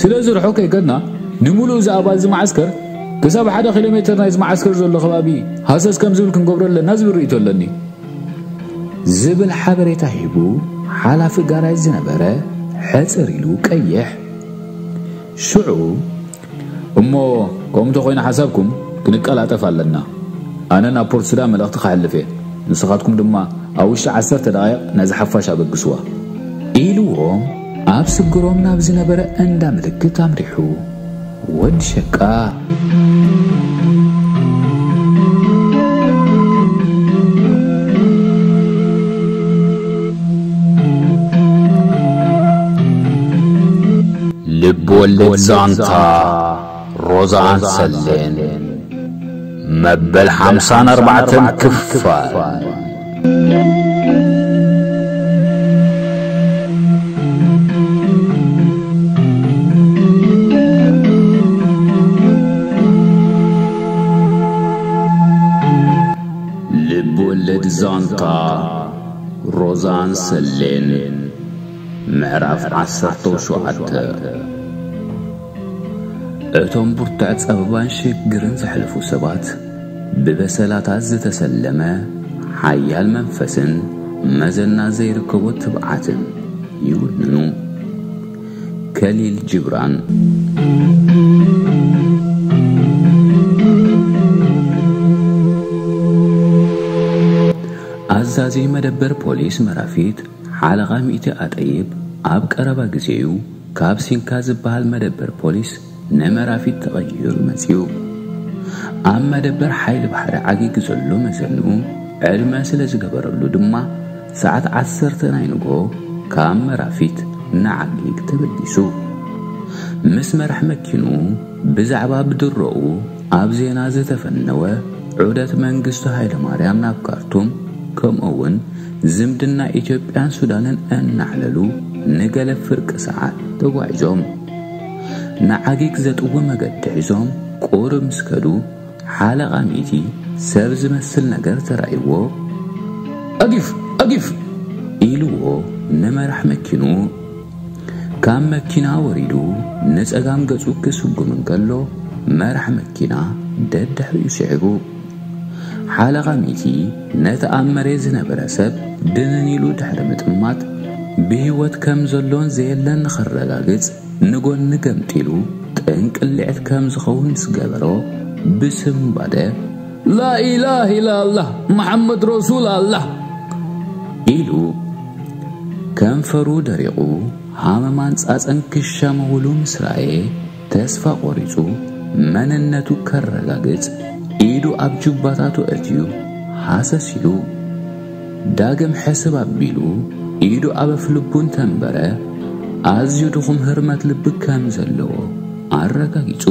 ስለዚ ርሑቕ ከይከድና ንምሉእ እዚ ኣባል እዚ መዓስከር ክሳብ ሓደ ኪሎ ሜተር ናይዚ መዓስከር ዘሎ ከባቢ ሃሰስ ከም ዝብል ክንገብሮ ኣለና ዝብል ርእይቶ ኣለኒ ዝብል ሓበሬታ ሂቡ ሓላፊ ጋራጅ ዝነበረ ሕጽር ኢሉ ቀይሕ ሽዑ እሞ ከምኡ እንተኾይኑ ሓሳብኩም ክንቀላጠፍ ኣለና ኣነ ናብ ፖርት ሱዳን መልእኽቲ ክሕልፍ እየ ንስኻትኩም ድማ ኣብ ውሽጢ ዓሰርተ ደቓይቕ ነዚ ሓፋሽ ኣበግስዋ ኢልዎም ኣብ ስግሮም ናብ ዝነበረ እንዳ ምልክት ኣምሪሑ። ወድ ሸቃ። ልብ ወለድ ዛንታ። ሮዛን ሰሌን መበል ሓምሳን ኣርባዕተን ክፋል ልብወለድ ዛንታ ሮዛን ሰሌን ምዕራፍ ዓሰርተው ሸውዓተ እቶም ብርቱዕ ጸበባን ሽግርን ዘሕለፉ ሰባት ብበሰላታት ዝተሰለመ ሓያል መንፈስን መዘና ዘይርከቦ ትብዓትን ይውንኑ። ከሊል ጂብራን። ኣዛዚ መደበር ፖሊስ መራፊት ሓለቓ ሚእቲ ኣጠይብ ኣብ ቀረባ ግዜ'ዩ፣ ካብ ሲንካ ዝበሃል መደበር ፖሊስ ነመራፊት ተቐይሩ መጺኡ። ኣብ መደበር ሓይሊ ባሕሪ ዓጊግ ዘሎ መዘንኡ ዕድመ ስለ ዝገበረሉ ድማ ሰዓት ዓሰርተ ናይ ንግሆ ካብ መራፊት ንዓጊግ ተበጊሱ። ምስ መራሕ መኪኑ ብዛዕባ ብድሮኡ ኣብ ዜና ዝተፈነወ ዑደት መንግስቱ ሃይለማርያም ናብ ካርቱም ከምኡ'ውን ዝምድና ኢትዮጵያን ሱዳንን እናዕለሉ ንገለ ፍርቂ ሰዓት ተጓዒዞም ንዓጊግ ዘጥዊ መገዲ ሒዞም ቁሩብ ምስ ከዱ ሓለቓ ሚእቲ ሰብ ዝመስል ነገር ተራእይዎ ኣጊፍ ኣጊፍ ኢልዎ ንመራሕ መኪንኡ ካብ መኪና ወሪዱ ንጸጋም ገጹ ክስጉም እንከሎ መራሕ መኪና ደድሕሪኡ ስዒቡ ሓለቓ ሚኪ ነቲ ኣብ መሬት ዝነበረ ሰብ ድንን ኢሉ ድሕሪ ምጥማት ብህይወት ከም ዘሎን ዘየለን ንኸረጋግጽ ንጎኒ ገምጢሉ ጥንቅሊዕት ከም ዝኸውን ምስ ገበሮ ብስምባደ ላኢላህ ኢላላህ መሓመድ ረሱል ኣላህ ኢሉ ከንፈሩ ደሪቑ ሃመማን ጻጸን ክሻመውሉ ምስ ረኣየ ተስፋ ቆሪጹ መንነቱ ከረጋግጽ ኢዱ ኣብ ጁባታቱ ኣእትዩ ሃሰስ ኢሉ ዳግም ሕስብ ኣቢሉ ኢዱ ኣብ ኣፍልቡ እንተንበረ ኣዝዩ ድኹም ህርመት ልቢ ከም ዘለዎ ኣረጋጊጹ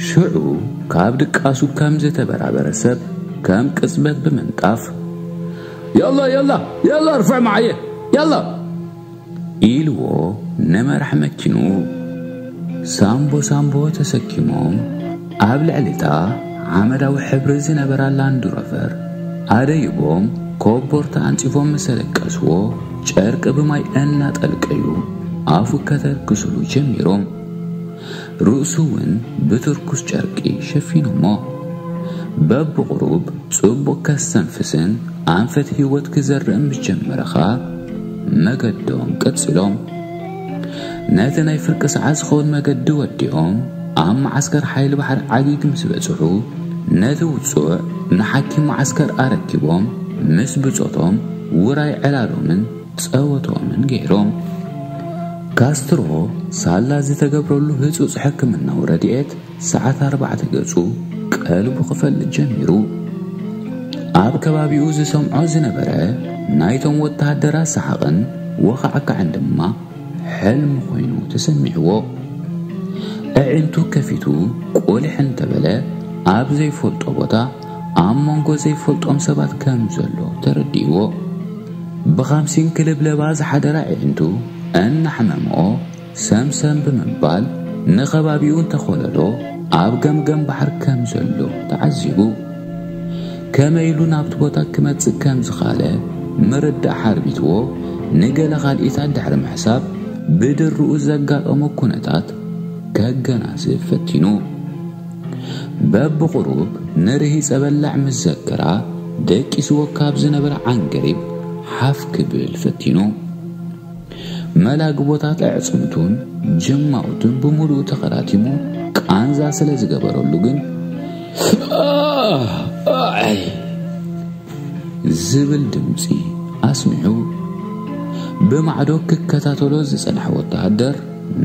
ሽዑ ካብ ድቃሱ ከም ዝተበራበረ ሰብ ከም ቅጽበት ብምንጣፍ የላ የላ የላ ርፍዕ መዓየ የላ ኢልዎ ንመራሕ መኪኑ ሳንቦ ሳንቦ ተሰኪሞም ኣብ ልዕሊታ ሓመዳዊ ሕብሪ ዝነበራ ላንድሮቨር ኣደይቦም ኮቦርታ ኣንጺፎም ምስ ኣለቀስዎ ጨርቂ ብማይ እናጠልቀዩ ኣፉ ከተርክስሉ ጀሚሮም። ርእሱውን ብትርኩስ ጨርቂ ሸፊኖሞ። በብቝሩብ ጽቡቕ ከስተንፍስን ኣንፈት ህይወት ክዘርእ ምስ ጀመረ ኸኣ መገዶም ቀጺሎም። ነቲ ናይ ፍርቂ ሰዓት ዝኸውን መገዲ ወዲኦም ኣብ መዓስከር ሓይሊ ባሕሪ ዓጊግ ምስ በጽሑ፣ ነቲ ውጹዕ ንሓኪም መዓስከር ኣረኪቦም ምስ ብጾቶም ውራይ ዕላሎምን፣ ጸወቶምን ገይሮም። ካስትሮ ሳላ ዝተገብረሉ ህጹጽ ሕክምናዊ ረድኤት ሰዓት ኣርባዕተ ገጹ ቀልቡ ክፈልጥ ጀሚሩ። ኣብ ከባቢኡ ዝሰምዖ ዝነበረ ናይቶም ወተሃደራት ሰሓቕን ወኻዕካዕን ድማ ሕልሚ ኮይኑ ተሰሚዕዎ። ኣዒንቱ ከፊቱ ቁልሕ እንተበለ ኣብ ዘይፈልጦ ቦታ ኣብ መንጎ ዘይፈልጦም ሰባት ከም ዘሎ ተረዲእዎ ብኻምሲን ክልብለባ ዝሓደራ ኣዒንቱ እናሕመምኦ ሰምሰም ብምባል ንኸባቢኡ እንተኾለሎ ኣብ ገምገም ባሕር ከም ዘሎ ተዓዚቡ ከመይ ኢሉ ናብቲ ቦታ ክመጽእ ከም ዝኻለ ምርዳእ ሓርቢትዎ ንገለ ካልኢታት ድሕሪ ምሕሳብ ብድርኡ ዘጋጠሞ ኩነታት ከገናዝብ ፈቲኑ በብቑሩብ ንርሂጸ በላዕ ምስ ዘከራ፣ ደቂስዎ ካብ ዝነበረ ዓንገሪብ ሓፍ ክብል ፈቲኑ። መላግቦታት ኣዕጽምቱን ጅማውቱን ብምሉኡ ተኸራቲሙ ቃንዛ ስለ ዝገበረሉ ግን ዝብል ድምጺ ኣስሚዑ ብማዕዶ ክከታተሎ ዝጸንሐ ወተሃደር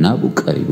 ናብኡ ቀሪቡ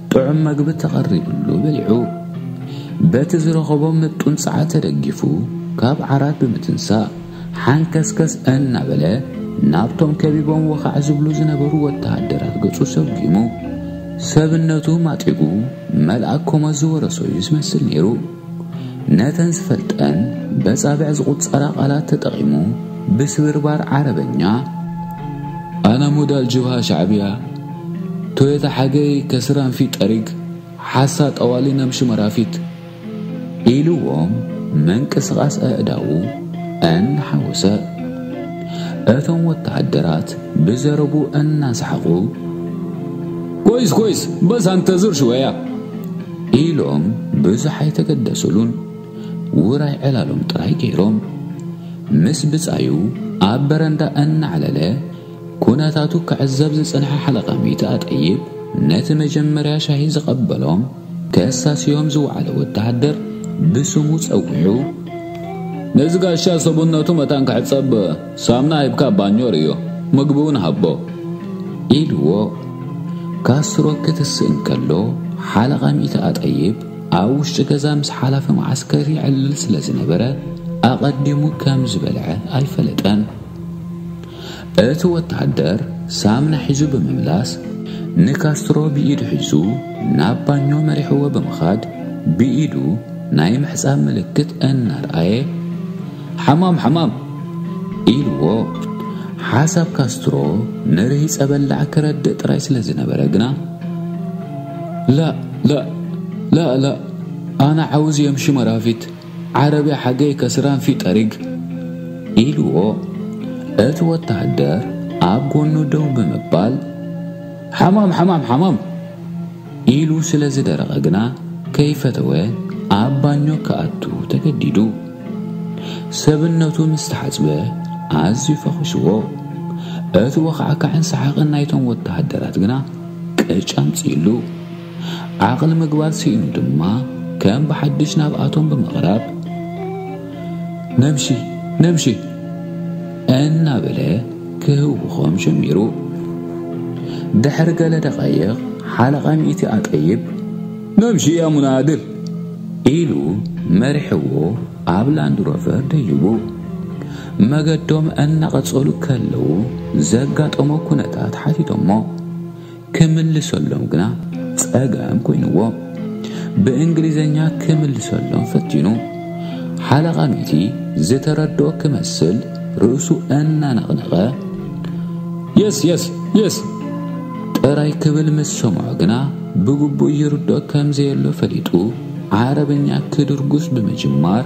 ጥዑም መግቢ ተቐሪብሉ በሊዑ፣ በቲ ዝረኸቦ ምጡን ጸዓት ተደጊፉ ካብ ዓራት ብምትንሳእ ሓንከስከስ እናበለ ናብቶም ከቢቦም ወኻዕ ዝብሉ ዝነበሩ ወተሃደራት ገጹ ሰጒሙ ሰብነቱ ማጢጉ መልኣክ ኮሞት ዝወረሶ'ዩ ዝመስል ነይሩ። ነተን ዝፈልጠን በጻብዕ ዝቝጸራ ቃላት ተጠቒሙ ብስብርባር ዓረበኛ ኣና ሞዳል ጅብሃ ሻዕብያ ቶዮታ ሓገይ ከስራን ፊት ጠሪግ ሓሳ ጠዋሊ ናብ ሽመራፊት ኢልዎም መንቅስቓስ ኣእዳዉ እናሓወሰ እቶም ወተሃደራት ብዘረቡ እናሰሓቑ ኮይስ ኮይስ በስ ኣንተ ዙር ሽወያ ኢሎም ብዙሕ ኣይተገደሱሉን፣ ውራይ ዕላሎም ጥራይ ገይሮም። ምስ ብጻዩ ኣብ በረንዳ እናዕለለ ኩነታቱ ክዕዘብ ዝጸንሐ ሓለቓ ሚእቲ ኣጠይብ፣ ነቲ መጀመርያ ሻሂ ዝቐበሎም ከሳስዮም ዝወዓለ ወተሃደር ብስሙ ጸዊዑ፣ ነዚ ጋሻ ሰብነቱ መታን ክሕጸብ፣ ሳምና ሂብካ ባኞ ርእዮ፣ ምግቢ'ውን ሃቦ። ኢሉዎ ካስትሮ ክትስእ እንከሎ፣ ሓለቓ ሚእቲ ኣጠይብ ኣብ ውሽጢ ገዛ ምስ ሓላፊ መዓስከር ይዕልል ስለ ዝነበረ፣ ኣቐዲሙ ከም ዝበልዐ ኣይፈለጠን። እቲ ወተሃደር ሳምና ሒዙ ብምምላስ፣ ንካስትሮ ብኢዱ ሒዙ ናብ ባኞ መሪሕዎ ብምኻድ፣ ብኢዱ ናይ ምሕጻብ ምልክት እናርኣየ፣ ሓማም ሓማም! ኢልዎ። ሓሳብ ካስትሮ ንርሂጸ በላዕ ክረድእ ጥራይ ስለ ዝነበረ ግና ላእ ላእ ላእ ላእ ኣነ ዓውዝ የምሺ መራፊት ዓረብያ ሓገይ ከስራን ፊ ጠሪግ ኢልዎ እቲ ወታሃደር ኣብ ጎኑ ደው ብምባል ሓማም ሓማም ሓማም ኢሉ ስለ ዝደረቐ ግና ከይፈተወ ኣብ ባኞ ክኣቱ ተገዲዱ። ሰብነቱ ምስ ተሓጽበ ኣዝዩ ፈኺስዎ። እቲ ወኻዕካዕን ሰሓቕን ናይቶም ወተሃደራት ግና ቅጭ ኣምጺኡሉ። ዓቕሊ ምግባር ስኢኑ ድማ ከም ብሓድሽ ናብኣቶም ብምቕራብ፣ ነብሺ ነብሺ እናበለ ክህውኾም ጀሚሩ። ድሕሪ ገለ ደቓይቕ ሓለቓ ሚእቲ ኣጠይብ ነብሺ ያ ሙናድር ኢሉ መሪሕዎ ኣብ ላንድሮቨር ደይቡ። መገዶም እናቐጸሉ ከለዉ ዘጋጠሞ ኩነታት ሓቲቶሞ። ክምልሰሎም ግና ጸገም ኮይንዎ ብእንግሊዘኛ ክምልሰሎም ፈቲኑ። ሓለቓ ሚቲ ዝተረድኦ ክመስል ርእሱ እናነቕነቐ የስ የስ የስ ጥራይ ክብል ምስ ሰምዖ ግና ብግቡእ ይርድኦ ከም ዘየሎ ፈሊጡ ዓረብኛ ክድርጉስ ብምጅማር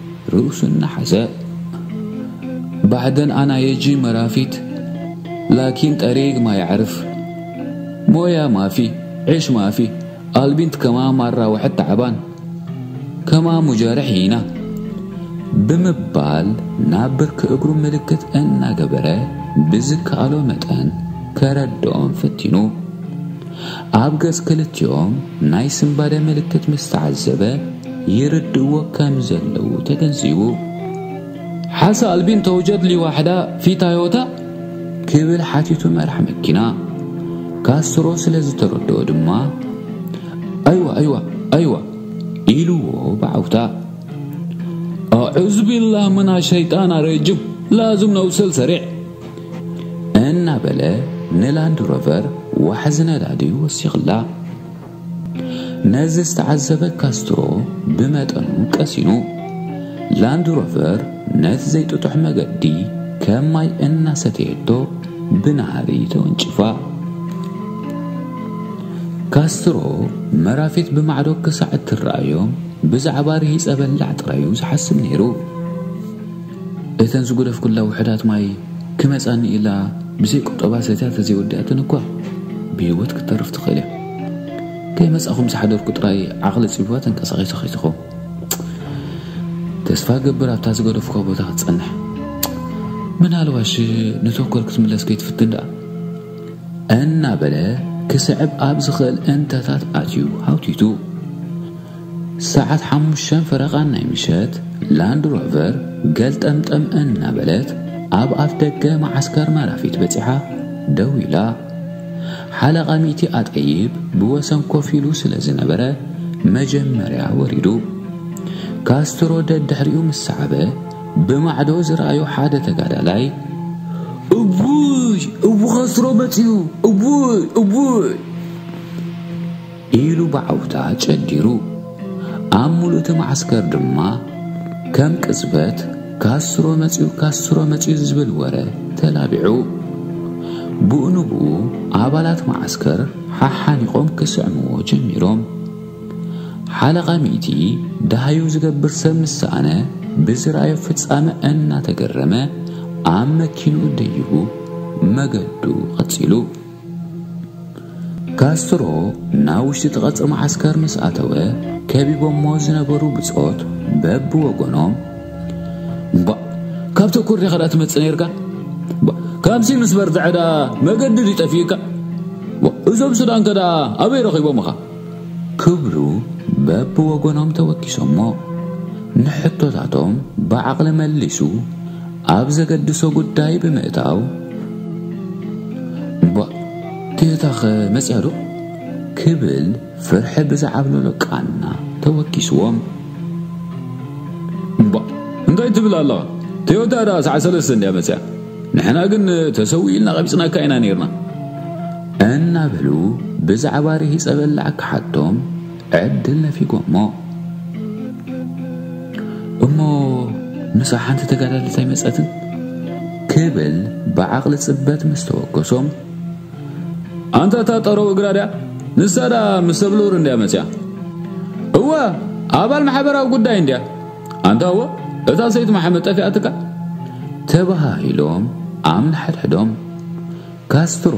ርእሱ እናሓዘ ባዕደን ኣና የጂ መራፊት ላኪን ጠሪግ ማ ያዕርፍ ሞያ ማፊ ዒሽ ማፊ ኣልቢንት ከማ ማራ ዋሕድ ታዕባን ከማ ሙጃርሕ ሂና ብምባል ናብ ብርኪ እግሩ ምልክት እናገበረ ብዝከኣሎ መጠን ከረድኦም ፈቲኑ። ኣብ ገጽ ክልቲኦም ናይ ስንባደ ምልክት ምስ ተዓዘበ፣ ይርድእዎ ከም ዘለዉ ተገንዚቡ። ሓሰ ኣልቢን ተውጀድ ሊ ዋሕዳ ፊ ታዮታ? ክብል ሓቲቱ መራሕ መኪና። ካስትሮ ስለ ዝተረድኦ ድማ፣ ኣይዋ ኣይዋ ኣይዋ ኢሉዎ ብዓውታ። ኣዑዙቢላህ ምና ሸይጣና ረጅም ላዝም ነውሰል ሰሪዕ! እናበለ ንላንድ ሮቨር ዋሕዚ ነዳዲ ወሲኽላ። ነዚ ዝተዓዘበ ካስትሮ ብመጠኑ ቀሲኑ። ላንድ ሮቨር ነቲ ዘይጥጡሕ መገዲ ከም ማይ እናሰተየቶ ብናህሪ ተወንጭፋ። ካስትሮ መራፊት ብማዕዶ ክሳዕ እትረኣዮም ብዛዕባ ርሂጸ በላዕ ጥራዩ ዝሓስብ ነይሩ። እተን ዝጉደፍኩላ ውሑዳት ማይ ክመጻኒ ኢላ ብዘይ ቁጠባ ሰትያ ተዘይወዲኣተን እኳ ብህይወት ክትተርፍ ትኽእል እያ። ከይመጻኹም ዝሓደርኩ ጥራይ ዓቕሊ ጽቢባ ተንቀሳቒሰ ከይትኸውን። ተስፋ እገብር ኣብታ ዝገደፍኳ ቦታ ክትጸንሕ። ምናልባሽ ንቶኮር ክትምለስ ከይትፍትን ደኣ። እናበለ ክስዕብ ኣብ ዝኽእል እንተታት ኣትዩ ሃውቲቱ። ሰዓት ሓሙሽተን ፈረቓን ናይ ምሸት፣ ላንድ ሮቨር ገልጠምጠም እናበለት ኣብ ኣፍ ደገ መዓስከር መራፊት በጺሓ ደው ኢላ። ሓለቓ ሚእቲ ኣጠይብ ብወሰን ኮፍ ኢሉ ስለ ዝነበረ መጀመርያ ወሪዱ። ካስትሮ ደድሕሪኡ ምስ ሰዓበ ብማዕዶ ዝረኣዮ ሓደ ተጋዳላይ እውይ እው ካስትሮ መጺኡ እውይ እውይ ኢሉ ብዓውታ ጨዲሩ። ኣብ ምሉእ'ቲ መዓስከር ድማ ከም ቅጽበት ካስትሮ መጺኡ ካስትሮ መጺኡ ዝብል ወረ ተላቢዑ። ብኡንብኡ ኣባላት መዓስከር ሓሓኒቖም ክስዕምዎ ጀሚሮም። ሓለቓ ሚእቲ ደሃዩ ዝገብር ሰብ ምስ ሰኣነ ብዝረኣዮ ፍጻመ እናተገረመ ኣብ መኪንኡ ደይቡ መገዱ ቀጺሉ። ካስትሮ ናብ ውሽጢ እቲ ቐጽሪ መዓስከር ምስ ኣተወ ከቢቦሞ ዝነበሩ ብጾት በብወገኖም እባ ካብቲ እኩር ዲኻ ድኣ ትመጽእ ነርካ ካብዚ ምስ በርትዐ ድኣ መገዲ ድዩ ጠፊኡካ እዞም ሱዳን ከ ድኣ ኣበይ ረኺቦምኻ ክብሉ በብወገኖም ተወኪሶሞ ንሕቶታቶም ብዓቕሊ መሊሱ ኣብ ዘገድሶ ጉዳይ ብምእታው፣ እምቧእ ጌታኸ መጺኣዶ? ክብል ፍርሒ ብዝዓብለሎ ቃና ተወኪስዎም፣ እምቧእ እንታይ ትብል ኣለኻ? ቶዮታ ደኣ ሰዓት ሰለስተ እንድያ መጺኣ፣ ንሕና ግን ተሰዊኡ ኢልና ቀቢጽናካ ኢና ኔርና። እናበሉ ብዛዕባ ርሂጸ በላዕ ክሓቶም፣ ዕድል ነፊጎሞ እሞ ምሳሕ ሓንቲ ተጋዳሊት ኣይመፀትን ክብል ብዓቕሊ ፅበት ምስ ተወከሶም ኣንታ እታ ጠረው እግራ ድያ ንሳ ድኣ ምስ ሰብልኡር እንድያ መፅያ እወ ኣባል ማሕበራዊ ጉዳይ እንድያ ኣንታ እወ እታ ሰይቲ መሓመድ ጠፊኣትካ ተባሂሎም ኣብ ንሓድሕዶም ካስትሮ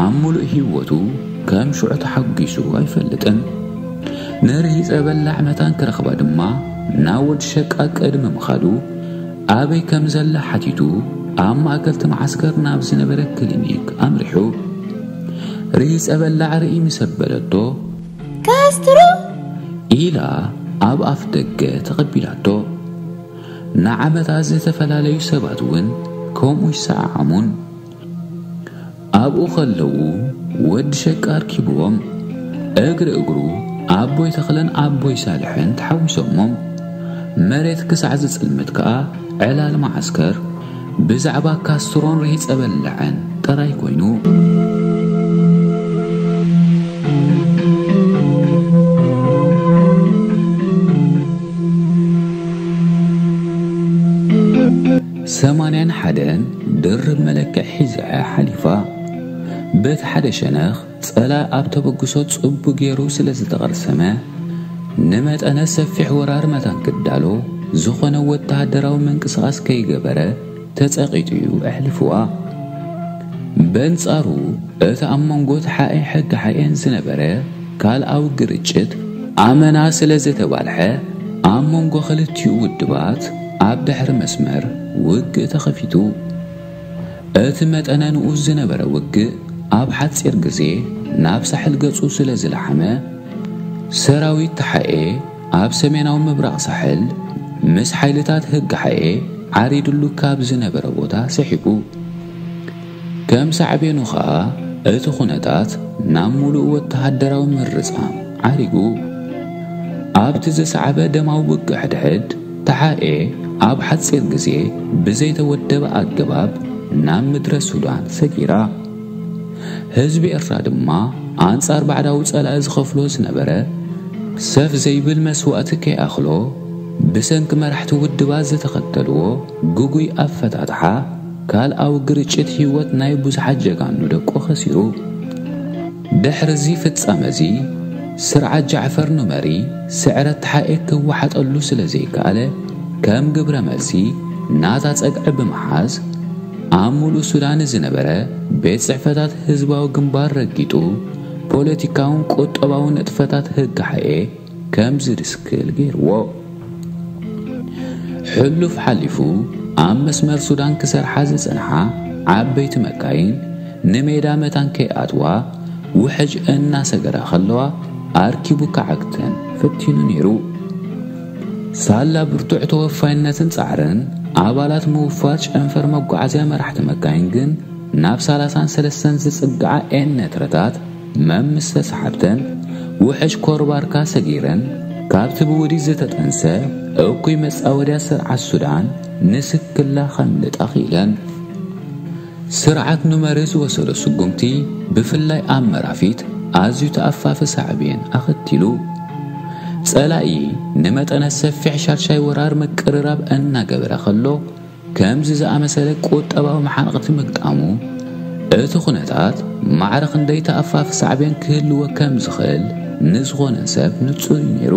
ኣብ ምሉእ ህይወቱ ከም ሽዑ ተሓጒሱ ኣይፈልጥን። ንርሂጸ በላዕ መታን ክረኽባ ድማ ናብ ወዲ ሸቃ ቅድሚ ምኻዱ ኣበይ ከም ዘላ ሓቲቱ ኣብ ማእከልቲ መዓስከር ናብ ዝነበረ ክሊኒክ ኣምሪሑ። ርሂጸ በላዕ ርእይ ምስ ኣበለቶ ካስትሮ ኢላ ኣብ ኣፍ ደገ ተቐቢላቶ። ንዓመታት ዝተፈላለዩ ሰባት እውን ከምኡ ይሰዓዓሙን ኣብኡ ከለዉ ወዲ ሸቃ ኣርኪብዎም እግሪ እግሩ ኣቦይ ተኽለን ኣቦይ ሳልሕን ተሓዊሶሞም መሬት ክሳዕ ዝጽልምት ከኣ ዕላል መዓስከር ብዛዕባ ካስትሮን ርሂጸ በላዕን ጥራይ ኮይኑ ሰማንያን ሓደን ድርብ መለክዒ ሒዛ'ያ ሓሊፋ። በቲ ሓደ ሸነኽ ጸላኢ ኣብ ተበግሶ ጽቡቕ ገይሩ ስለ ዝተቐርሰመ፣ ንመጠነ ሰፊሕ ወራር መታን ክዳሎ ዝኾነ ወተሃደራዊ ምንቅስቓስ ከይገበረ ተጸቒጡ'ዩ ኣሕሊፉዋ። በንጻሩ እቲ ኣብ መንጎ ተሓኤ ሕግሓኤን ዝነበረ፣ ካልኣዊ ግርጭት ኣመና ስለ ዝተባልሐ ኣብ መንጎ ክልቲኡ ውድባት ኣብ ድሕሪ መስመር ውግእ ተኸፊቱ። እቲ መጠነ ንኡስ ዝነበረ ውግእ ኣብ ሓጺር ግዜ ናብ ሳሕል ገጹ ስለ ዝለሓመ፣ ሰራዊት ተሓኤ ኣብ ሰሜናዊ ምብራቕ ሳሕል ምስ ሓይልታት ህግሓኤ ዓሪድሉ ካብ ዝነበረ ቦታ ስሒቡ። ከም ሳዕቤኑ ከኣ እቲ ኩነታት ናብ ምሉእ ወተሃደራዊ ምርጻም ዓሪጉ። ኣብቲ ዝሰዓበ ደማዊ ውግእ ሕድሕድ፣ ተሓኤ ኣብ ሓጺር ግዜ ብዘይተወደበ ኣገባብ ናብ ምድረ ሱዳን ሰጊራ። ህዝቢ ኤርትራ ድማ ኣንጻር ባዕዳዊ ጸላኢ ዝኸፍሎ ዝነበረ ሰፍ ዘይብል መስዋእቲ ከይኣኽሎ ብሰንኪ መራሕቲ ውድባት ዝተኸተልዎ ግጉይ ኣፈታትሓ ካልኣዊ ግርጭት ህይወት ናይ ብዙሓት ጀጋኑ ደቁ ከሲሩ። ድሕሪ'ዚ ፍጻመ'ዚ፣ ስርዓት ጃዕፈር ኑመሪ ስዕረት ተሓኤ ክወሓጠሉ ስለ ዘይከኣለ፣ ከም ግብረ መልሲ ናታ ጸግዒ ብምሓዝ፣ ኣብ ምሉእ ሱዳን ንዝነበረ ቤት ጽሕፈታት ህዝባዊ ግንባር ረጊጡ፣ ፖለቲካውን ቁጠባውን ንጥፈታት ህግሓኤ፣ ከምዚ ድስክል ገይርዎ ሕሉፍ ሓሊፉ ኣብ መስመር ሱዳን ክሰርሓ ዝጸንሓ ዓበይቲ መካይን ንሜዳ መታን ከይኣትዋ ውሕጅ እናሰገራ ከለዋ ኣርኪቡ ክዓግተን ፈቲኑ ነይሩ። ሳላ ብርቱዕ ተወፋይነትን ጻዕርን ኣባላት ምውፋር ጨንፈር መጓዓዝያ መራሕቲ መካይን ግን ናብ ሰላሳን ሰለስተን ዝጽግዓ ኤነትረታት መም ምስ ተሳሓብተን ውሕጅ ኮርባርካ ሰጊረን ካብቲ ብውዲት ዝተጠንሰ እኩይ መጻወድያ ስርዓት ሱዳን ንስክላ ከምልጣ ክኢለን። ስርዓት ኑመሪ ዝወሰዶ ስጉምቲ ብፍላይ ኣብ መራፊት ኣዝዩ ተኣፋፊ ሳዕቤን ኣኸቲሉ። ጸላኢ ንመጠነ ሰፊሕ ሻድሻይ ወራር ምቅርራብ እናገበረ ከሎ፣ ከምዚ ዝኣመሰለ ቁጠባዊ መሓንቕቲ ምግጣሙ፣ እቲ ኩነታት ማዕረ ክንደይ ተኣፋፊ ሳዕቤን ክህልዎ ከም ዝኽእል ንዝኾነ ሰብ ንጹር እዩ ነይሩ።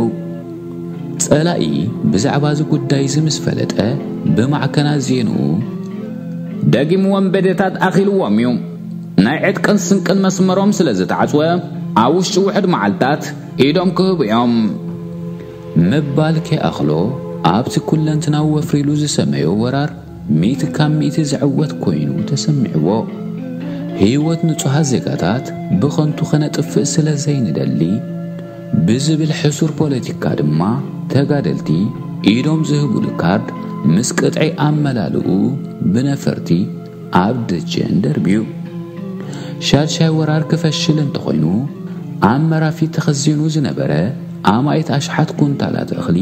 ጸላኢ ብዛዕባ እዚ ጉዳይ እዚ ምስ ፈለጠ፣ ብማዕከናት ዜንኡ፣ ደጊሙ ወንበዴታት ኣኺልዎም እዩ፣ ናይ ዕጥቅን ስንቅን መስመሮም ስለ ዝተዓጽወ፣ ኣብ ውሽጢ ውሑድ መዓልታት ኢዶም ክህቡ እዮም። ምባል ከይኣኽሎ፣ ኣብቲ ኩለንትናዊ ወፍሪ ኢሉ ዝሰመዮ ወራር ሚእቲ ካብ ሚእቲ ዝዕወት ኮይኑ ተሰሚዕዎ። ህይወት ንጹሃት ዜጋታት ብኸንቱ ከነጥፍእ ስለ ዘይንደሊ ብዝብል ሕሱር ፖለቲካ ድማ ተጋደልቲ ኢዶም ዝህቡሉ ካርድ ምስ ቅጥዒ ኣመላልኡ ብነፈርቲ ኣብ ደጀን ደርብዩ። ሻድሻይ ወራር ክፈሽል እንተኾይኑ ኣብ መራፊት ተኸዚኑ ዝነበረ ኣማኢት ኣሽሓት ኩንታላት እኽሊ፣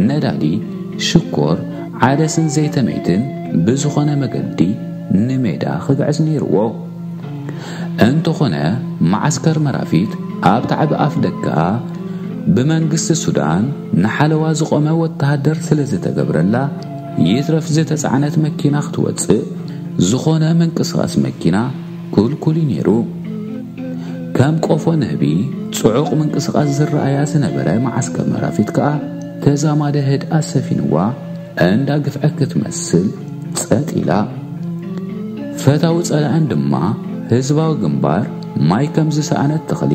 ነዳዲ፣ ሽኮር፣ ዓደስን ዘይተመይትን ብዝኾነ መገዲ ንሜዳ ክግዕዝ ነይርዎ። እንተኾነ መዓስከር መራፊት ኣብ ታዕቢ ኣፍደገኣ ብመንግስቲ ሱዳን ንሓለዋ ዝቖመ ወተሃደር ስለዝተገብረላ፣ ይትረፍ ዝተጻዕነት መኪና ክትወጽእ ዝኾነ ምንቅስቓስ መኪና ክልኩል እዩ ነይሩ። ከም ቆፎ ንህቢ ጽዑቕ ምንቅስቓስ ዝረኣያ ዝነበረ መዓስከር መራፊት ከኣ ተዛማደ ህድኣት ሰፊንዋ እንዳ ግፍዐ ክትመስል ጸጥ ኢላ። ፈታዊ ጸላእን ድማ ህዝባዊ ግንባር ማይ ከም ዝሰኣነት ተኽሊ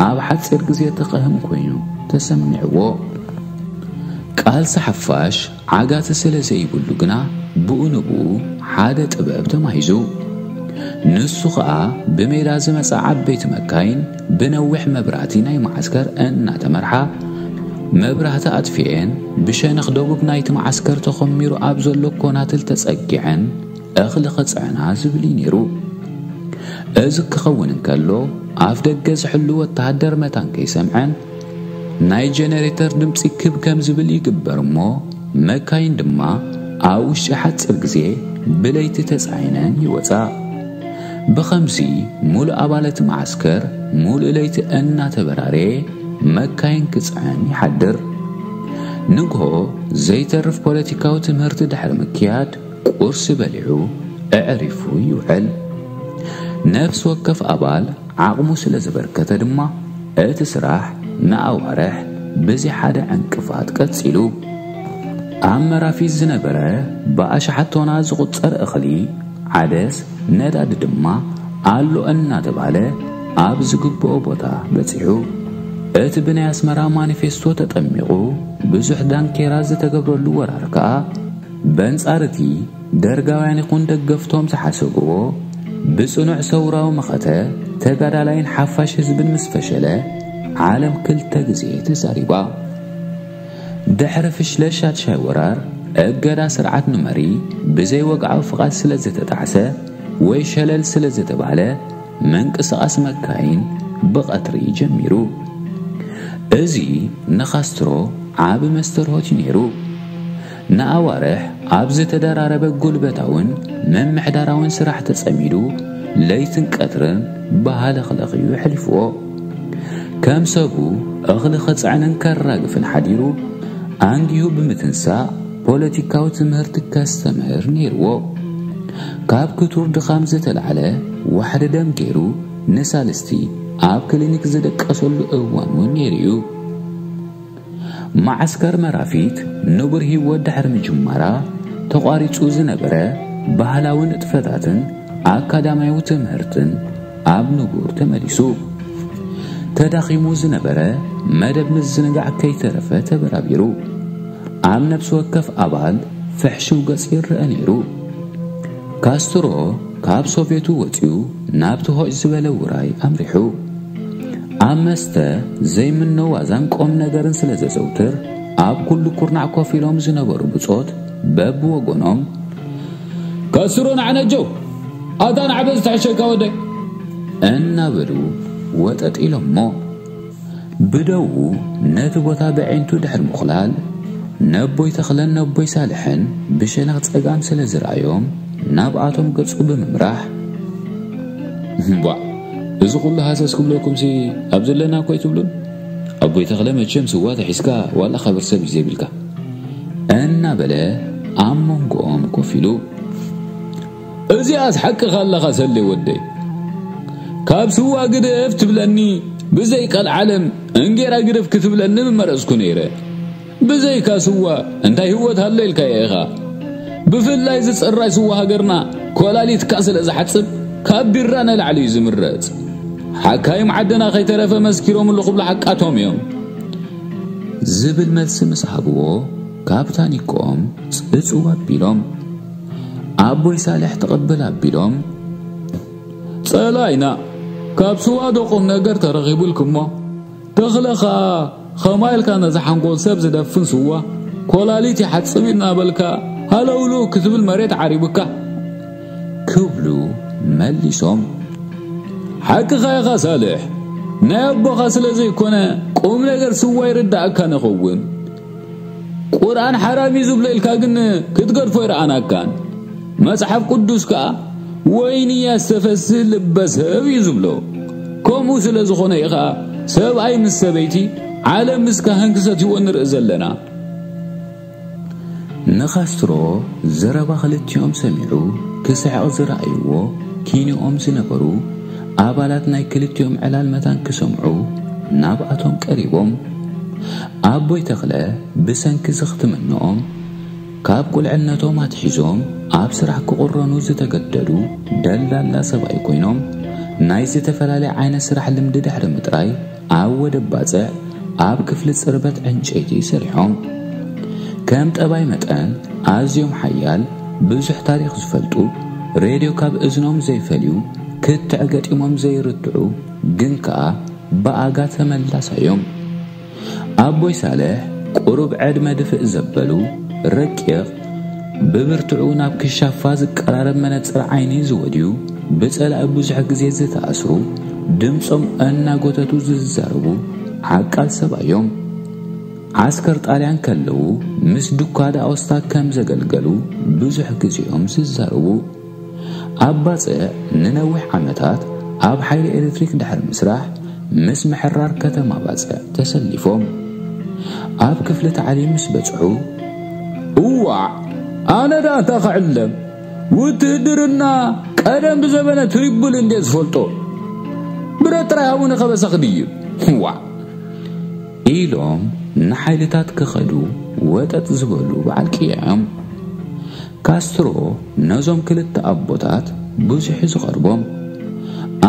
ኣብ ሓጺር ግዜ ተቐህም ኮይኑ ተሰሚዕዎ። ቃልሲ ሓፋሽ ዓጋቲ ስለ ዘይብሉ ግና ብኡ ንብኡ ሓደ ጥበብ ተማሂዙ። ንሱ ኸኣ ብሜዳ ዝመጻ ዓበይቲ መካይን ብነዊሕ መብራህቲ ናይ መዓስከር እናተመርሓ መብራህቲ ኣጥፊኤን ብሸነኽ ደቡብ ናይቲ መዓስከር ተኾሚሩ ኣብ ዘሎ ኮናትል ተጸጊዐን እኽሊ ክጽዕና ዝብል'ዩ ነይሩ። እዚ ክኸውን እንከሎ ኣፍደገ ዝሕሉ ወተሃደር መታን ከይሰምዐን ናይ ጀነሬተር ድምጺ ክብ ከም ዝብል ይግበር እሞ መካይን ድማ ኣብ ውሽጢ ሓጽር ግዜ ብለይቲ ተጻዒነን ይወጻ። ብኸምዚ ሙሉእ ኣባለቲ መዓስከር ሙሉእ ለይቲ እናተበራረየ መካይን ክጽዕን ይሓድር። ንግሆ ዘይተርፍ ፖለቲካዊ ትምህርቲ ድሕሪ ምክያድ ቁርሲ በሊዑ ኣዕሪፉ ይውዕል። ነፍሲ ወከፍ ኣባል ዓቕሙ ስለ ዘበርከተ ድማ እቲ ስራሕ ንኣዋርሕ ብዘይ ሓደ ዕንቅፋት ቀጺሉ። ኣብ መራፊት ዝነበረ ብኣሽሓት ቶናት ዝቑጸር እኽሊ፣ ዓደስ፣ ነዳዲ ድማ ኣሎ እናተባህለ ኣብ ዝግብኦ ቦታ በጺሑ። እቲ ብናይ ኣስመራ ማኒፌስቶ ተጠሚቑ ብዙሕ ዳንኬራ ዝተገብረሉ ወራር ከኣ በንጻር እቲ ደርጋውያን ይኹን ደገፍቶም ዝሓሰብዎ ብጽኑዕ ሰውራዊ መኸተ ተጋዳላይን ሓፋሽ ህዝብን ምስ ፈሸለ ዓለም ክልተ ግዜ ተዛሪባ። ድሕሪ ፍሽለት ሻድሻይ ወራር እገዳ ስርዓት ንመሪ ብዘይ ወግዓዊ ፍቓድ ስለ ዝተጣዕሰ ወይ ሸለል ስለ ዝተባህለ ምንቅስቓስ መካይን ብቐትሪ ጀሚሩ። እዚ ንካስትሮ ዓቢ መስተርሆት እዩ ነይሩ። ንኣዋርሕ ኣብ ዝተደራረበ ጉልበታውን ምምሕዳራውን ስራሕ ተጸሚዱ ለይትን ቀትርን ብሃለኽለኽ እዩ ኣሕሊፍዎ። ከም ሰቡ እኽሊ ከጽዕንን ከራግፍን ሓዲሩ ኣንጊሁ ብምትንሳእ ፖለቲካዊ ትምህርቲ ከስተምህር ነይርዎ። ካብ ክቱር ድኻም ዝተላዕለ ዋሕዲ ደም ገይሩ ንሳልስቲ ኣብ ክሊኒክ ዝደቀሰሉ እዋን እውን ነይሩ እዩ። መዓስከር መራፊት ንቡር ህይወት ድሕሪ ምጅማራ ተቋሪጹ ዝነበረ ባህላዊ ንጥፈታትን ኣካዳምያዊ ትምህርትን ኣብ ንቡር ተመሊሱ። ተዳኺሙ ዝነበረ መደብ ምዝንጋዕ ከይተረፈ ተበራቢሩ። ኣብ ነብሲ ወከፍ ኣባል ፍሕሽው ገጽ ይረኣ ነይሩ። ካስትሮ ካብ ሶቬቱ ወጺኡ ናብቲ ሆጭ ዝበለ ውራይ ኣምሪሑ። ኣብ መስተ ዘይምነ ዋዛን ቆም ነገርን ስለ ዘዘውትር ኣብ ኩሉ ኩርናዕ ኮፍ ኢሎም ዝነበሩ ብጾት በብወገኖም ከስሮ ናዕነጀው ኣታ ናዕበ ዝተሐሸካ ወደይ እናበሉ ወጠጥ ኢሎሞ ብደዉ ነቲ ቦታ ብዐይንቱ ድሕር ምኹላል ነቦይ ተኽለን ነቦይ ሳልሕን ብሸነኽ ጸጋም ስለ ዝረኣዮም ናብኣቶም ገጹ ብምምራሕ እምቧእ እዚ ኩሉ ሃሰስ ክብለኩምሲ ኣብ ዘለና እኮ ኣይትብሉን ኣቦይ ተክለ መቸም ስዋ ተሒዝካ ዋላ ከብር ሰብ እዩ ዘይብልካ እናበለ ኣብ መንጎኦም ኮፍ ኢሉ እዚኣስ ሓቅኻ ኣለኻ ሰሌ ወደይ ካብ ስዋ ግደፍ ትብለኒ ብዘይ ቀልዓለም እንጌራ ግደፍ ክትብለኒ ምመረጽኩ ነይረ ብዘይካ ስዋ እንታይ ህይወት ኣሎ ኢልካዮ ኢኻ ብፍላይ ዝጽራይ ስዋ ሃገርና ኮላሊትካ ስለ ዝሓጽብ ካብ ቢራ ንላዕሊ እዩ ዝምረጽ ሓካይም ዓድና ከይተረፈ መስኪሮምሉ ክብሉ ሓቃቶም እዮም ዝብል መልሲ ምስ ሃብዎ ካብ ታኒኮኦም ጽጽው ኣቢሎም ኣቦይ ሳልሕ ተቐብል ኣቢሎም ጸላኢና ካብ ስዋ ዶ ቁም ነገር ተረኺቡልኩሞ ተኽለ ከኣ ኸማይ ኢልካ ነዚ ሓንጎል ሰብ ዝደፍን ስዋ ኮላሊት ይሓጽብ እናበልካ ሃለውልው ክትብል መሬት ዓሪብካ ክብሉ መሊሶም ሓቅኻ ኢኻ ሳልሕ ናይ ኣቦኻ ስለ ዘይኮነ ቁም ነገር ስዋ ይርድኣካ ንኸውን ቁርኣን ሓራም እዩ ዝብሎ ኢልካ ግን ክትገድፎ ይረኣናካን መጽሓፍ ቅዱስ ከኣ ወይኒ ያስተፈስህ ልበ ሰብ እዩ ዝብሎ ከምኡ ስለ ዝኾነ ኢኻ ሰብኣይ ምስ ሰበይቲ ዓለም ምስ ካህን ክሰትይዎ ንርኢ ዘለና ንካስትሮ ዘረባ ክልቲኦም ሰሚዑ ክስሕቕ ዝረኣይዎ ኪንኦም ዝነበሩ ኣባላት ናይ ክልቲኦም ዕላል መታን ክሰምዑ ናብኣቶም ቀሪቦም፣ ኣቦይ ተኽለ ብሰንኪ ዝኽትምንኦም ካብ ቁልዕነቶም ኣትሒዞም ኣብ ስራሕ ክቑረኑ ዝተገደዱ ደልዳላ ሰብኣይ ኮይኖም ናይ ዝተፈላለየ ዓይነት ስራሕ ልምዲ ድሕሪ ምጥራይ፣ ኣብ ወደብ ባጽዕ ኣብ ክፍሊ ጽርበት ዕንጨይቲ ሰሪሖም። ከም ጠባይ መጠን ኣዝዮም ሓያል፣ ብዙሕ ታሪኽ ዝፈልጡ፣ ሬድዮ ካብ እዝኖም ዘይፈልዩ፣ ክትዕ ገጢሞም ዘይርትዑ ግን ከኣ ብኣጋ ተመላሳዮም። ኣቦይ ሳልሕ ቁሩብ ዕድመ ድፍእ ዘበሉ፣ ረቂቕ፣ ብብርትዑ ናብ ክሻፋ ዝቀራረብ መነጽር ዓይኒ ዝወድዩ፣ ብጸላኢ ብዙሕ ግዜ ዝተኣስሩ፣ ድምጾም እናጎተቱ ዝዛረቡ ዓቃል ሰብ'ዮም። ዓስከር ጣልያን ከለዉ ምስ ዱካ ዳ'ኮስታ ከም ዘገልገሉ ብዙሕ ግዜ'ዮም ዝዛረቡ። ኣብ ባጽዕ ንነዊሕ ዓመታት ኣብ ሓይሊ ኤሌክትሪክ ድሕሪ ምስራሕ ምስ ምሕራር ከተማ ባጽዕ ተሰሊፎም ኣብ ክፍሊ ታዕሊም ምስ በጽሑ እዋዕ ኣነ ደኣ እንታይ ክዕለም ውትህድርና ቀደም ብዘበነ ትሪቡል እንዴ ዝፈልጦ ብረት ጥራይ ሃቡኒ ከበሳ ክድይብ ዋዕ ኢሎም ንሓይልታት ክኸዱ ወጠጥ ዝበሉ በዓል ቅያ እዮም ካስትሮ ነዞም ክልተ ኣቦታት ብዙሕ ዝቐርቦም፣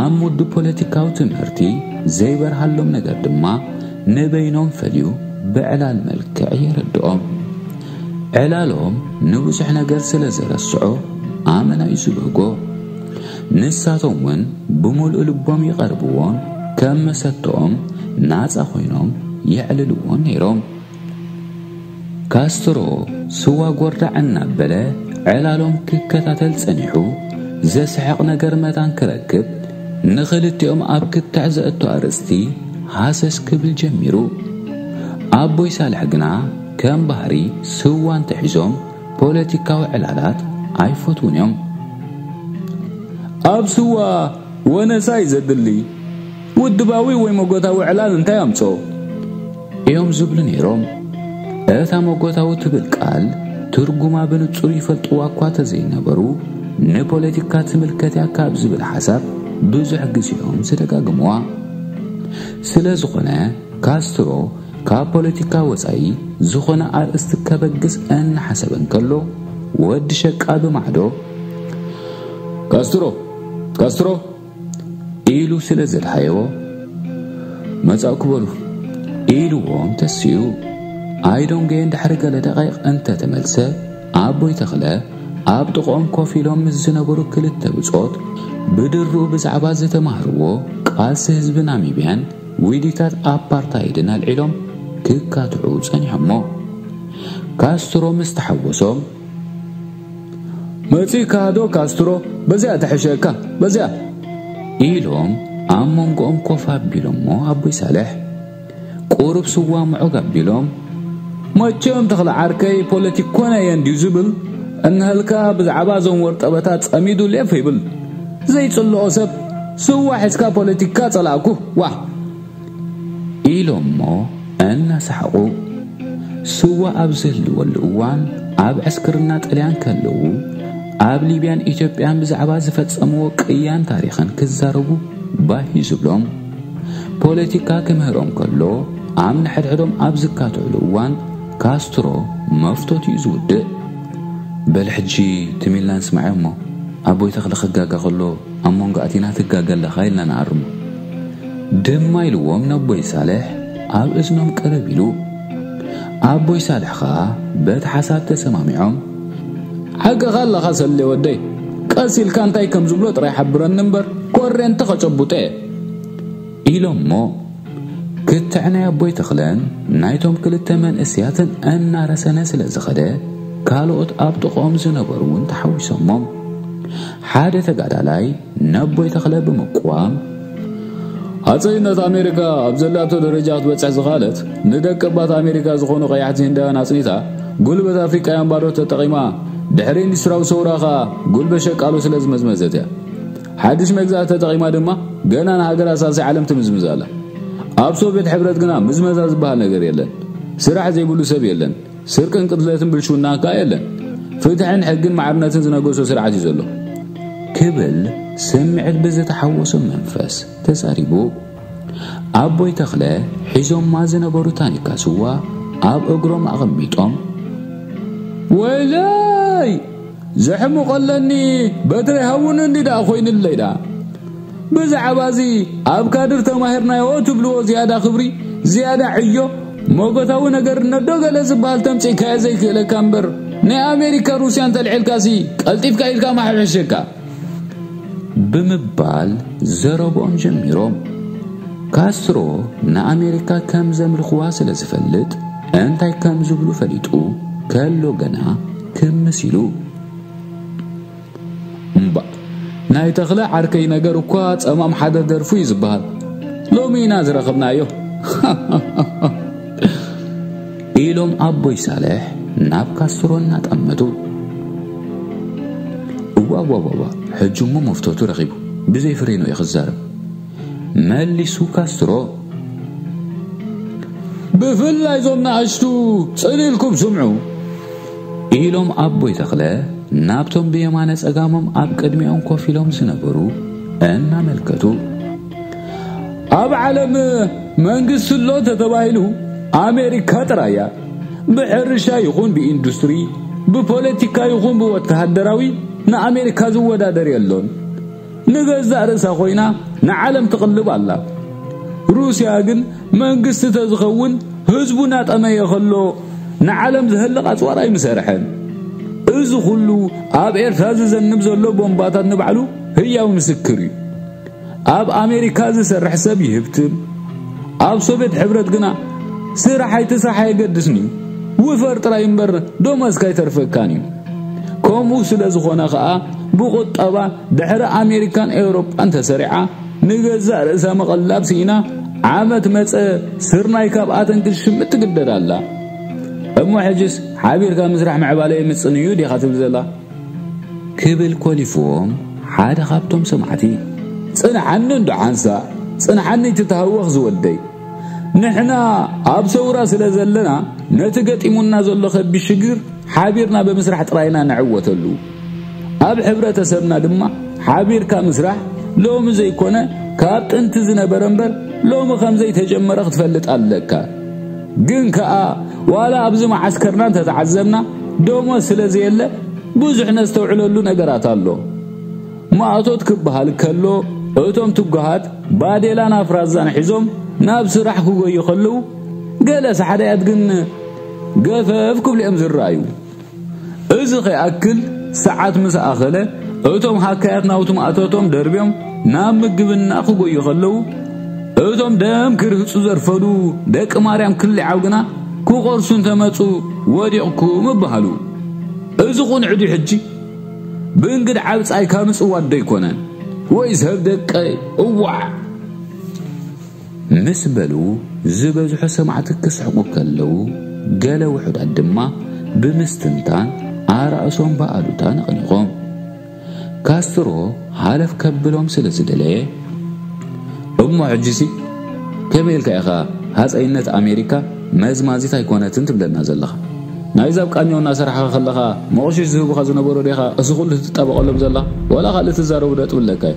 ኣብ ሙድ ፖለቲካዊ ትምህርቲ ዘይበርሃሎም ነገር ድማ ንበይኖም ፈልዩ ብዕላል መልክዕ የረድኦም። ዕላሎም ንብዙሕ ነገር ስለ ዘረስዖ ኣመና'ዩ ዝብህጎ። ንሳቶም እውን ብምሉእ ልቦም ይቐርብዎን ከም መሰተኦም ናጻ ኮይኖም የዕልልዎን ነይሮም። ካስትሮ ስዋ ጎርዳዕ እናበለ ዕላሎም ክከታተል ጸኒሑ ዘስሕቕ ነገር መታን ክረክብ ንኽልቲኦም ኣብ ክትዕ ዘእቶ ኣርእስቲ ሃሰስ ክብል ጀሚሩ። ኣቦይ ሳልሕ ግና ከም ባህሪ ስዋ እንተሒዞም ፖለቲካዊ ዕላላት ኣይፈትዉን እዮም። ኣብ ስዋ ወነሳ እዩ ዘድሊ። ውድባዊ ወይ መጎታዊ ዕላል እንታይ ኣምጽኦ? እዮም ዝብሉ ነይሮም። እታ መጎታዊ ትብል ቃል ትርጉማ ብንጹር ይፈልጥዋ እኳ ተዘይነበሩ፣ ንፖለቲካ ትምልከት እያ ካብ ዝብል ሓሳብ ብዙሕ ግዜ እዮም ዝደጋግምዋ። ስለ ዝኾነ ካስትሮ ካብ ፖለቲካ ወጻኢ ዝኾነ ኣርእስቲ ከበግስ እናሓሰበ እንከሎ ወዲ ሸቃ ብማዕዶ ካስትሮ! ካስትሮ! ኢሉ ስለ ዘድሃየዎ መጻእኩ በሉ ኢልዎም ተሲኡ ኣይዶንጌ ድሕሪ ገለ ደቂቕ እንተተመልሰ ኣቦይ ተኽለ ኣብ ጥቕኦም ኮፍ ኢሎም ምስ ዝነበሩ ክልተ ብጾት ብድሩ ብዛዕባ ዝተማህርዎ ቃልሲ ህዝቢ ናሚብያን ዊዲታት ኣፓርታይድን ኣልዒሎም ክካትዑ ጸኒሖሞ ካስትሮ ምስ ተሓወሶም መጺእካ ዶ ካስትሮ በዚኣ ትሕሸካ በዚኣ ኢሎም ኣብ መንጎኦም ኮፍ ኣቢሎሞ ኣቦይ ሳልሕ ቁሩብ ስዋ ምዑግ ኣቢሎም መቸም ተኽለ ዓርከይ ፖለቲክ ኮነ እየ እንድዩ ዝብል እንሃልካ ብዛዕባ እዞም ወርጠበታት ጸሚዱ ሌፍ ይብል ዘይጽልኦ ሰብ ስዋ ሒዝካ ፖለቲካ ጸላእኩ ዋ ኢሎሞ እናሰሓቑ ስዋ ኣብ ዝህልወሉ እዋን ኣብ ዕስክርና ጥልያን ከለዉ ኣብ ሊብያን ኢትዮጵያን ብዛዕባ ዝፈጸምዎ ቅያን ታሪኽን ክዛረቡ ባሂ ዝብሎም ፖለቲካ ክምህሮም ከሎ ኣብ ንሕድሕዶም ኣብ ዝካትዕሉ እዋን ካስትሮ መፍቶት እዩ ዝውድእ በል ሕጂ ትሚልና ንስማዕ እሞ ኣቦይ ተኽለ ክጋጋ ከሎ ኣብ መንጎ ኣቲና ትጋገ ኣለኻ ኢልና ንኣርሞ ድማ ኢልዎም ነቦይ ሳልሕ ኣብ እዝኖም ቀረብ ኢሉ። ኣቦይ ሳልሕ ኸኣ በቲ ሓሳብ ተሰማሚዖም ሓቅኻ ኣለኻ ሰሌ ወደይ ቀስ ኢልካ እንታይ ከም ዝብሎ ጥራይ ሓብረኒ እምበር ኮሬንቲ ከጨቡጠ እየ ኢሎሞ ክትዕ ናይ ኣቦይ ተኽለን ናይቶም ክልተ መንእስያትን እናረሰነ ስለ ዝኸደ ካልኦት ኣብ ጥቕኦም ዝነበሩ እውን ተሓዊሶሞም ሓደ ተጋዳላይ ነቦይ ተኽለ ብምቅዋም፣ ሃጸይነት ኣሜሪካ ኣብ ዘላቶ ደረጃ ክትበጽሕ ዝኸኣለት፣ ንደቀባት ኣሜሪካ ዝኾኑ ቀያሕቲ ህንዳውያን ኣጽኒታ፣ ጉልበት ኣፍሪቃውያን ባዶ ተጠቒማ፣ ድሕሪ ኢንዱስትራዊ ሰውራ ከኣ ጉልበት ሸቃሎ ስለ ዝመዝመዘት እያ። ሓድሽ መግዛእቲ ተጠቒማ ድማ ገና ንሃገራት ሳልሳይ ዓለም ትምዝምዝ ኣላ። ኣብ ሶቭየት ሕብረት ግና ምዝመዛ ዝበሃል ነገር የለን። ስራሕ ዘይብሉ ሰብ የለን። ስርቅን ቅትለትን ብልሽውናን ከኣ የለን። ፍትሕን ሕግን ማዕርነትን ዝነገሶ ስርዓት እዩ ዘሎ። ክብል ስምዒት ብዝተሓወሶ መንፈስ ተዛሪቡ። ኣቦይ ተኽለ ሒዞማ ዝነበሩ ታኒካ ስዋ ኣብ እግሮም ኣቐሚጦም ወይለይ! ዘሕምቆለኒ በትረይ ሃውኑ እንዲ ደኣ ኮይኑለይ ደኣ ብዛዕባ እዚ ኣብ ካድር ተማሂርናዮ ትብልዎ ዝያዳ ክብሪ ዝያዳ ዕዮ ሞጎታዊ ነገር ነዶ ገለ ዝበሃል ተምጺእካዮ ዘይክእለካ እምበር ናይ ኣሜሪካ ሩስያ እንተልዒልካሲ ቀልጢፍካ ኢልካ ማሕብሕሸካ ብምባል ዘረብኦም ጀሚሮም ካስትሮ ንኣሜሪካ ከም ዘምልኽዋ ስለ ዝፈልጥ እንታይ ከም ዝብሉ ፈሊጡ ከሎ ገና ክምስ ኢሉ እምባ ናይ ተኽለ ዓርከይ ነገር እኳ ጸማም ሓደ ደርፉ እዩ ዝበሃል ሎሚ ኢና ዝረኸብናዮ ኢሎም ኣቦይ ሳልሕ ናብ ካስትሮ እናጠመቱ እዋዋዋዋ ሕጂ እሞ መፍተቱ ረኺቡ ብዘይ ፍሬኑ እዩ ክዛረብ መሊሱ ካስትሮ። ብፍላይ ዞም ንኣሽቱ ጽን ኢልኩም ስምዑ ኢሎም ኣቦይ ተኽለ ናብቶም ብየማነ ጸጋሞም ኣብ ቅድሚኦም ኮፍ ኢሎም ዝነበሩ እናመልከቱ ኣብ ዓለም መንግስቲ ኣሎ ተተባሂሉ ኣሜሪካ ጥራይ እያ ብሕርሻ ይኹን ብኢንዱስትሪ ብፖለቲካ ይኹን ብወተሃደራዊ ንኣሜሪካ ዝወዳደር የሎን ንገዛእ ርእሳ ኮይና ንዓለም ትቕልብ ኣላ። ሩስያ ግን መንግስቲ ተዝኸውን ህዝቡ ናጠመየ ከሎ ንዓለም ዘህልቕ ኣጽዋር ኣይምሰርሐን። እዚ ኩሉ ኣብ ኤርትራ ዝዘንብ ዘሎ ቦምባታት ንባዕሉ ህያው ምስክር እዩ። ኣብ ኣሜሪካ ዝሰርሕ ሰብ ይህብትም ኣብ ሶቬት ሕብረት ግና ስራሕ ኣይትስራሕ ኣየገድስን እዩ ውፈር ጥራይ እምበር ደሞዝካ ኣይተርፈካን እዩ ከምኡ ስለ ዝኾነ ኸኣ ብቑጠባ ድሕሪ ኣሜሪካን ኤውሮጳን ተሰሪዓ ንገዛእ ርእሳ መቐላብ ስኢና ዓመት መጸ ስርናይ ካብኣተን ክትሽምት ትግደድ ኣላ እሞ ሕጅስ ሓቢርካ ምስራሕ ምዕባለ የምጽን እዩ ዲኻ ትብል ዘላ ክብል ኮሊፍዎም ሓደ ካብቶም ሰማዕቲ ጽንዓኒ እንዶ ሓንሳእ ጽንዓኒ ትተሃወኽ ዝወልደይ ንሕና ኣብ ሰውራ ስለ ዘለና ነቲ ገጢሙና ዘሎ ከቢድ ሽግር ሓቢርና ብምስራሕ ጥራይና ንዕወተሉ ኣብ ሕብረተሰብና ድማ ሓቢርካ ምስራሕ ሎሚ ዘይኮነ ካብ ጥንቲ ዝነበረ እምበር ሎሚ ከም ዘይተጀመረ ክትፈልጥ ኣለካ ግን ከኣ ዋላ ኣብዚ መዓስከርና እንተተዓዘብና ደሞዝ ስለ ዘየለ ብዙሕ ነስተውዕለሉ ነገራት ኣሎ። ማእቶት ክበሃል ከሎ እቶም ትጉሃት ባዴላን ኣፍራዛን ሒዞም ናብ ስራሕ ክጎዩ ከለዉ ገለ ሳሕዳያት ግን ገፈፍ ክብሉ እዮም ዝረኣዩ። እዚ ከይኣክል ሰዓት ምስ ኣኸለ እቶም ሃካያት ናውቲ ማእቶቶም ደርብዮም ናብ ምግብና ክጎዩ ከለዉ እቶም ደም ክርህጹ ዘርፈዱ ደቂ ማርያም ክሊዓው ግና ክቆርሱ እንተመጹ ወዲቕኩም እበሃሉ እዚ ቁንዕ ድዩ ሕጂ ብእንግድ ዓብጻይካ ምጽዋት ዶ ኣይኮነን ወይስ ህብ ደቀይ እዋዕ ምስ በሉ ዝበዝሑ ሰማዕቲ ክስሕቁ ከለዉ ገለ ውሑዳት ድማ ብምስትንታን ኣራእሶም ብኣሉታ ነቕኒቖም። ካስትሮ ሃለፍ ከብሎም ስለ ዝደለየ፣ እሞ ሕጂሲ ከመይ ኢልካ ኢኻ ሃጸይነት ኣሜሪካ መዝማዚት ኣይኮነትን ትብለና ዘለኻ? ናይዚ ኣብ ቃኘው እናሰራሕኻ ከለኻ መቑሽሽ ዝህቡኻ ዝነበሩ ዲኻ እዚ ኩሉ ትጣበቐሎም ዘለኻ? ዋላ ካልእ ትዛረቡ ነጥቢ ኣለካ'ዩ።